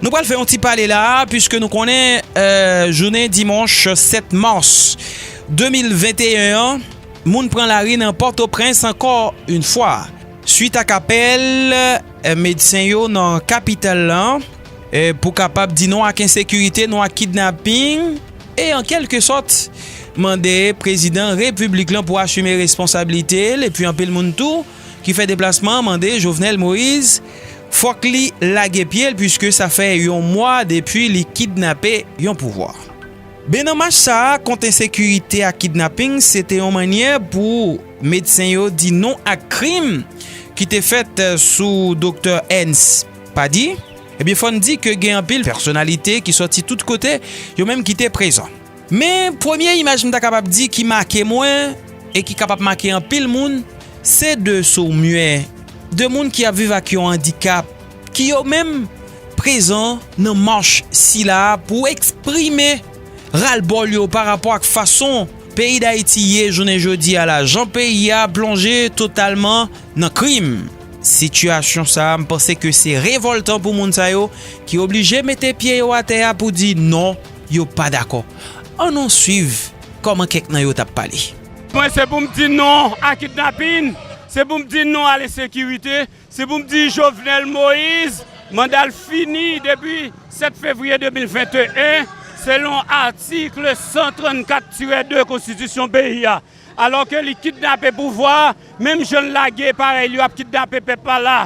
Nou pral fè yon ti pale la a puiske nou konnen jounen dimanch 7 mars 2021 an moun pran lari nan Pòtoprens ankò yon fwa suit ak apèl medsen yo nan kapital la pou kapab di non ak ensekirite, non ak kidnaping e an kelke sòt mande prezidan repiblik lan pou asime responsabilite l epi anpil moun tou. ki fè deplasman mande Jovenel Moise fòk li lage pye l puiske sa fè yon mwa depi li kidnape yon pouvwa. Ben nan mach sa a kont ensekirite ak kidnaping se te yon mannyè pou medsen yo di non ak krim ki te fèt sou doktè Ernst Paddy, ebyen fò n di ke gen anpil pèsonalite ki sòti tout kote yo menm ki te prezan. Men, premye imaj m ta kapab di ki make mwen e ki kapab make anpil moun, se de sourd-muè, de moun ki ap viv ak yon andikap, ki yo menm prezan nan mach sila a pou eksprime ralbòl yo pa rapò ak fason peyi Dayiti ye jounen jodi a la, jan peyi a plonje totalman nan krim. Sitiyasyon sa a, m panse ke se revòltan pou moun sa yo ki oblije mete pye yo atè a pou di non. Yo pa dakò. An nou swiv kòman kèk nan yo t ap pale. Mwen se pou m di non a kidnapin, se pou m di non a lensekirite, se pou m di Jovenel Moise manda l fini depi 7 fevriye 2021, selon atikl 134 tirè 2 konstitisyon peyi a. Alò ke li kidnape pouvwa a, menm jan l lage parèy li yo ap kidnape pèp la la.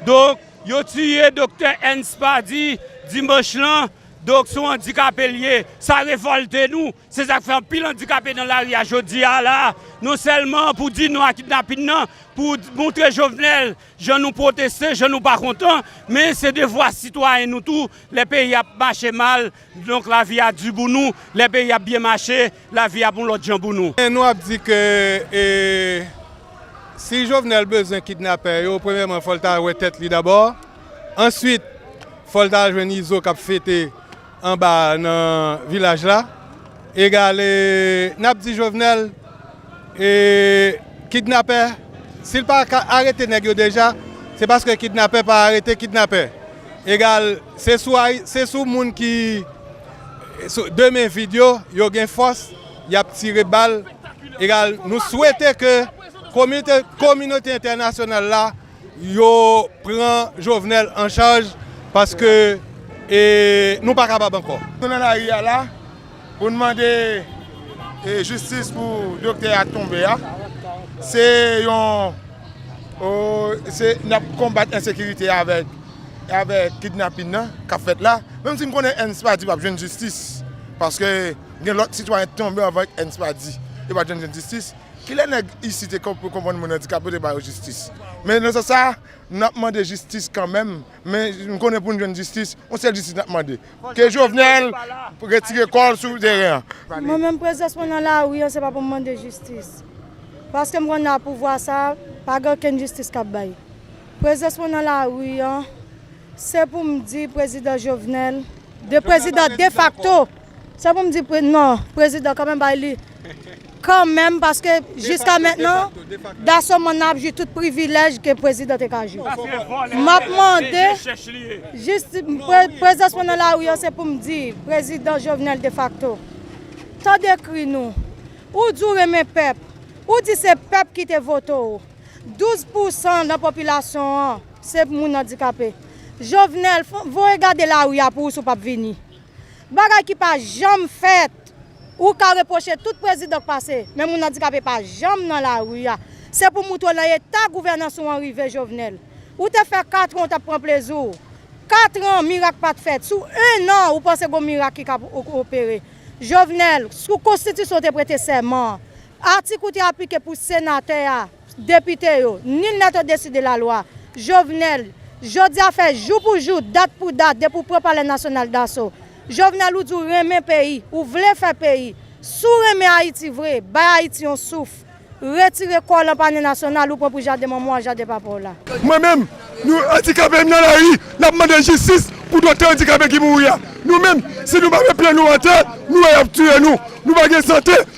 Donk, yo tiye doktè Ernst Paddy dimanch lan. Doc son andikape li ye, sa revolte nou, se sak fè anpil andikape nan lari a jodi a la, non sèlman pou di non a kidnapin nan, pou moutre Jovenel jan nou pwoteste, jan nou pa kontan, men se devwa sitwayen nou tou, lè peyi a ap mache mal, donk lavi a di pou nou, lè peyi a ap byen mache, Lavi ap yon lòt jan pou nou. Nou ap di ke si Jovenel bezwen kidnapè yo, premyèman fò l ta wè tèt li dabò, answit fò l ta al jwenn Izo k ap fete anba nan vilaj la. Egale n ap di Jovenel kidnapè. Si l pa arete nèg yo deja, se paske kidnapè pa arete kidnapè. Egal. Se sou ay se sou moun ki sou de men vid yo yo gen fòs yap tire bal egal nou swete ke komite kominote entènasyonal la yo pran jovenel an chaj paske e nou pa kapab ankò. Nou nan lari a la Pou n mande jistis pou doktè a tonbe a, se yon, se n ap konbat ensekirite a avèk kidnapin nan k ap fèt la, menm si m konnen Ernst Pady p ap jwenn jistis, paske gen lòt sitwayen ki tonbe anvan Ernst Pady, yo pa t janm jwenn jistis, kilè nèg isit te konprann moun andikape yo te ba yo jistis? Men nan sans sa a, n ap mande jistis kanmenm. men nou konnen pou nou jwenn jistis, yon sèl jistis nap mande, ke Jovenel retire kòl sou teren an. Mwen menm prezans mwen nan lari an se pa pou m mande jistis, paske m konnen a pouvwa sa pa gen okenn jistis kap bay. Prezans mwen nan lari an se pou m di prezidan Jovenel, de prezidan defakto. Se pou m di pre non prezidan kanmenm bay li kanmenm paske jiska mentnan Daso Manna ap jwi tout privilèj ke prezidan te ka jwi. M ap mande jis prezans mwen nan lari an se pou m di prezidan Jovenel defakto tande kri nou ou di w renmen pèp ou di se pèp ki te vote w 12 pousan nan popilasyon an se moun andikape Jovenel voye gade lari a pou w si w p ap vini. Bagay ki pa janm fèt. Ou ka repwoche tout prezidan k pase, men moun andikape pa janm nan lari a. Se pou moutre w nan eta gouvènans ou an rive, Jovenel. Ou te fè katran ou t ap pran plezi w. Katran, mirak pa t fèt. Sou ennan, ou panse gon mirak ki ka opere. Jovenel, sou konstitisyon ou te prete sèman an, atik ou te aplike pou senatè a, Depite yo, nul n'est au dessus de la loi, Jovenel, Jodi a fè jou pou jou, dat pou dat depi ou pran palè nasyonal daso. Jovenel ou di ou renmen peyi, ou vle fè peyi. Si w renmen Ayiti vre, bay Ayiti yon souf. Retire kò w lan panye nasyonal ou pran pou jaden manman w ak jaden papa w la. Mwen menm, nou andikape nan lari, n ap mande jistis pou doktè andikape ki mouri a. Nou menm, si nou pa met pye nou atè, nou wè y ap tiye nou. Nou pa gen sante.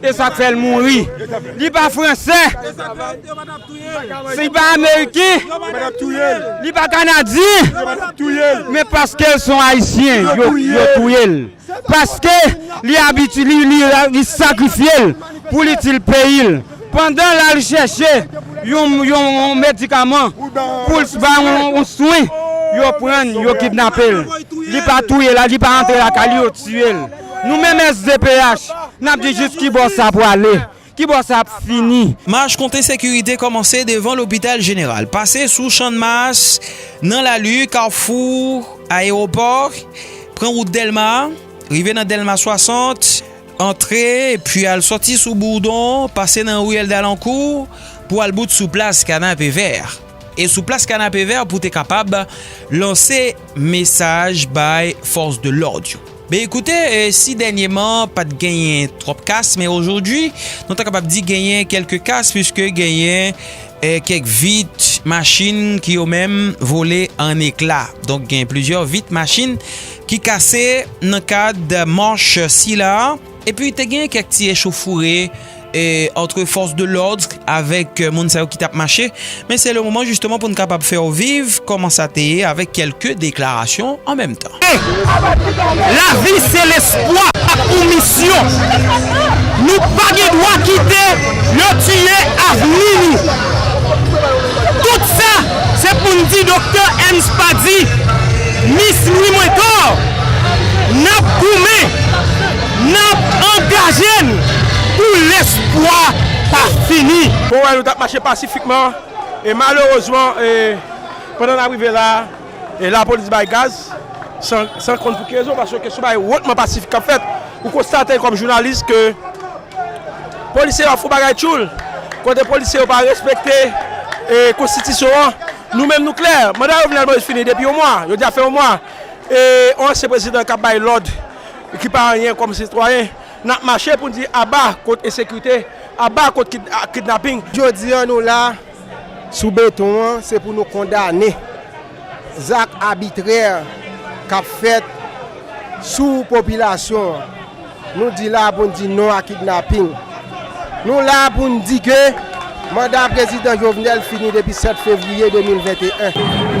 E sak fèl mouri. Li pa fransè. E sak fèl yo pa tap touyel. Li pa ameriken. Yo pa tap touyel. Li pa kanadyen. Yo pa tap touyel. Men paskel son ayisyen yo touyel. Paske li abitye li sakrifyel pou li itil peyil. Pandan lal chèche yon medikaman poul bay yon swen yo prann yo kidnapel. Li pa touyel li pa antre lakay li yo tiyel. Nou menm SDPH, n ap di jis kibò sa pwale? Kibò sa ap fini? Mach kont ensekirite kòmanse devan lopital jeneral, pase sou channmas, nan lali, kafou ayewopò, pran wout dèlma, rive nan dèlma 60, antre epi al sòti sou bourdon, pase nan riyèl dalankou pou al bout sou plas kanapevè. E sou plas kanapevè pou te kapab lanse mesaj bay fòs de lòd yo. Ben ekoute, si dènyeman pa t genyen twòp kas, men ojodwi nou ta kapab di genyen kèlke kas piske genyen kèk vit machin ki yo menm vole an ekla. Donk gen plizyè vit machin ki kase nan kad manch sila a. Epi te gen kèk ti echofoure antre fòs de lòdr avèk moun sa yo ki tap mache. Men se le moman jisteman pou n kapab fè w viv kòman sa te ye avèk kèlke deklarasyon an menm tan. E, lavi se lespwa ak yon misyon. Nou pa gen dwa kite yo tiye avni nou. Tout sa se pou n di Doktè Ernst Pady, Mis Louis Mouintor, n ap goumen. N ap angaje n pou lespwa pa fini. Mwen wè nou t ap mache pasifikman e malerezman pandan n ap rive la a lapolis bay gaz san konn pou ki rezon paske se yon bagay wotman pasifik k ap fèt. Ou konstate kòm jounalis ke polisye yo ap fè yon bagay tchoul kote polisye yo pa respekte konstitisyon an. Nou menm nou klè, manda Jovenel Moïse fini depi yon mwa, jodi a fè yon mwa e yon ansyen prezidan k ap bay lòd. ki pa anyen kòm sitwayen, n ap mache pou n di aba kont ensekirite, aba kont kidnaping. Jodi an nou la sou beton an se pou nou kondane zak abitrè k ap fèt sou popilasyon an. Nou di la pou n di non a kidnaping. Nou la a pou n di ke manda Prezidan Jovenel fini depi 7 fevriye 2021.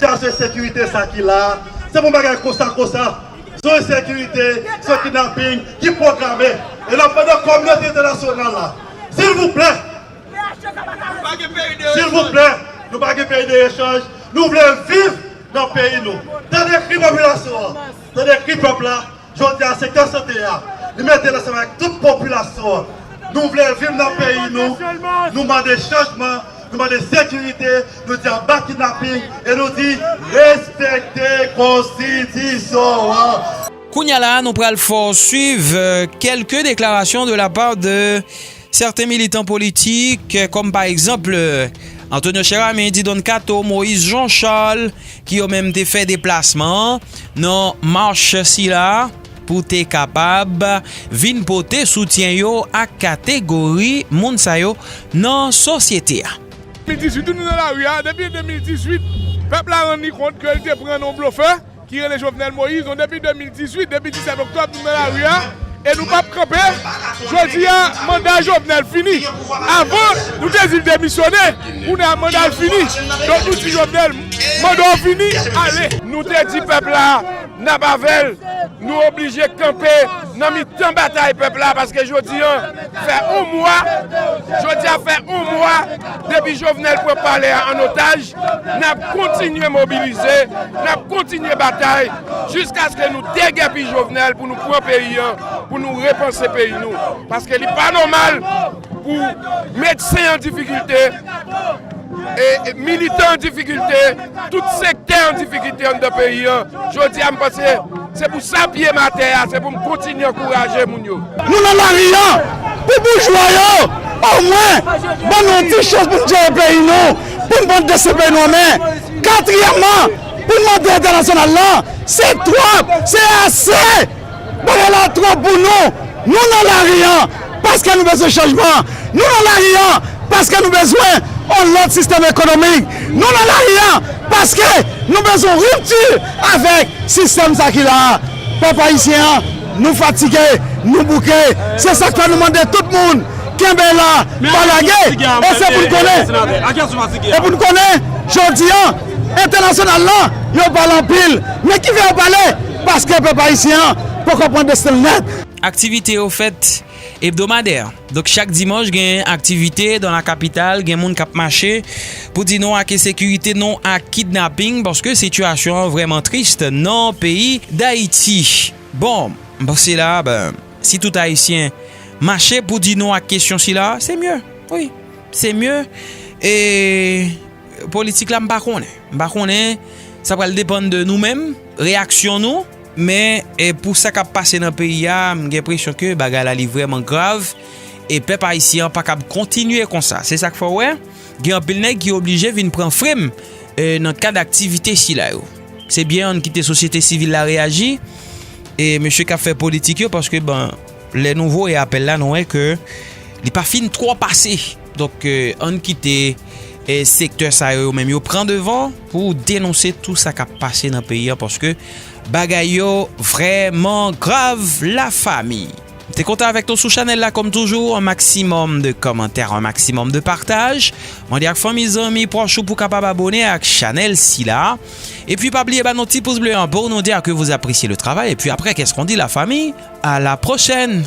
Chaje sekirite sa ki la se pou bagay konsa konsa sou ensekirite sou kidnaping ki pwograme e nap mande kominote entènasyonal la silvouplè Silvouplè nou pa gen peyi de echanj nou vle viv nan peyi nou tande kri popilasyon an tande kri pèp la jodi a sektè sante a li metel ansanm avèk tout popilasyon an nou vle viv nan peyi nou nou mande chanjman nou mande sekirite nou di aba kidnaping e nou di respekte konstitisyon an. Kounya la nou pral fè w swiv kelke deklarasyon de la part de. Sèten militan politik, kòm pa egzanp, Antonio Cheramy, Didon Kato, Moïse Jean Charles, ki yo menm te fè deplasman an nan mach sila pou te kapab vin pote soutyen yo ak kategori moun sa yo nan sosyete a. 2018 ou nou nan lari a depi 2018 pèp la rann li kont ke li te pran nan yon blofè. ki rele Jovenel Moïse nou depi 2018 depi 17 oktòb nou nan lari a e nou pap kanpe jodi a manda Jovenel fini avan nou te di l demisyone kounye a manda l fini donk nou di Jovenel manda w fini ale. Nou te di pèp la nap avè l nou oblije kanpe nan mitan batay pèp la paske jodi an fè on mwa jodi a fè on mwa depi Jovenel pran palè a an otaj N ap kontinye mobilize, n ap kontinye batay jiskaske nou degèpi Jovenel pou nou pran peyi an, pou nou repanse peyi nou. Paske li pa nòmal pou medsen an difikilte, militan an difikilte, tout sektè an difikilte anndan peyi an. Jodi a m panse se pou sa pye m atè a, se pou m kontinye ankouraje moun yo. Nou nan lari an pou boujwa yo omwen ban nou yon ti chans pou nou jere peyi nou. pou n pran dosye peyi nou an men. Katriyèmman, pou n mande entènasyonal la, se twòp, se ase! Bagay la twòp pou nou. Nou nan lari an paske nou bezwen chanjman. Nou nan lari an paske nou bezwen yon lòt sistèm ekonomik. Nou nan lari an paske nou bezwen yon ripti avèk sistèm sa ki la a. Pèp ayisyen an. Nou fatige, nou bouke, se sak fè nou mande tout moun kenbe la pa lage e se pou n konnen e pou n konnen jodi an entènasyonal la yo pale anpil men ki fè yo pale paske pèp ayisyen an poko pran desten l nèt. Aktivite yo fèt Hebdomadè, donk chak dimanch gen aktivite dan la kapital, gen moun kap mache pou di non ak ensekirite, non ak kidnaping paske sitiyasyon an vrèman trist nan peyi Dayiti. Bon, m panse la, si tout Ayisyen mache pou di non ak kesyon sila, se mye. Wi, se mye e politik la m pa konnen. M pa konnen, sa pral depann de nou menm, reyaksyon nou. Men, pou sa k ap pase nan peyi a, m gen enpresyon ke bagay la li vrèman grav, e pèp ayisyen an pa kab kontinye konsa. Se sa k fè w wè, gen anpil nèg ki oblije vin pran frem nan kad aktivite sila yo. Se byen an n kite sosyete sivil la reyaji, e mesye k ap fè politik yo, paske bon, lè nou voye apèl la, nou wè ke li pa fin twò pase. Donk, an n kite sektè sa yo yo menm yo pran devan. pou denonse tou sa kap pase nan peyi an paske bagay yo vrèman grav la fami. M te kontan avèk nou sou chanèl la kòm toujou an maksimòm de kòmantè an maksimòm de pataj mande ak fanmi zanmi pwòch ou pou kapab abone ak chanèl sila epi pa bliye ba nou ti pous ble an pou nou di a ke vou apresye le travay epi aprè kèskon di la fami a la pwochèn.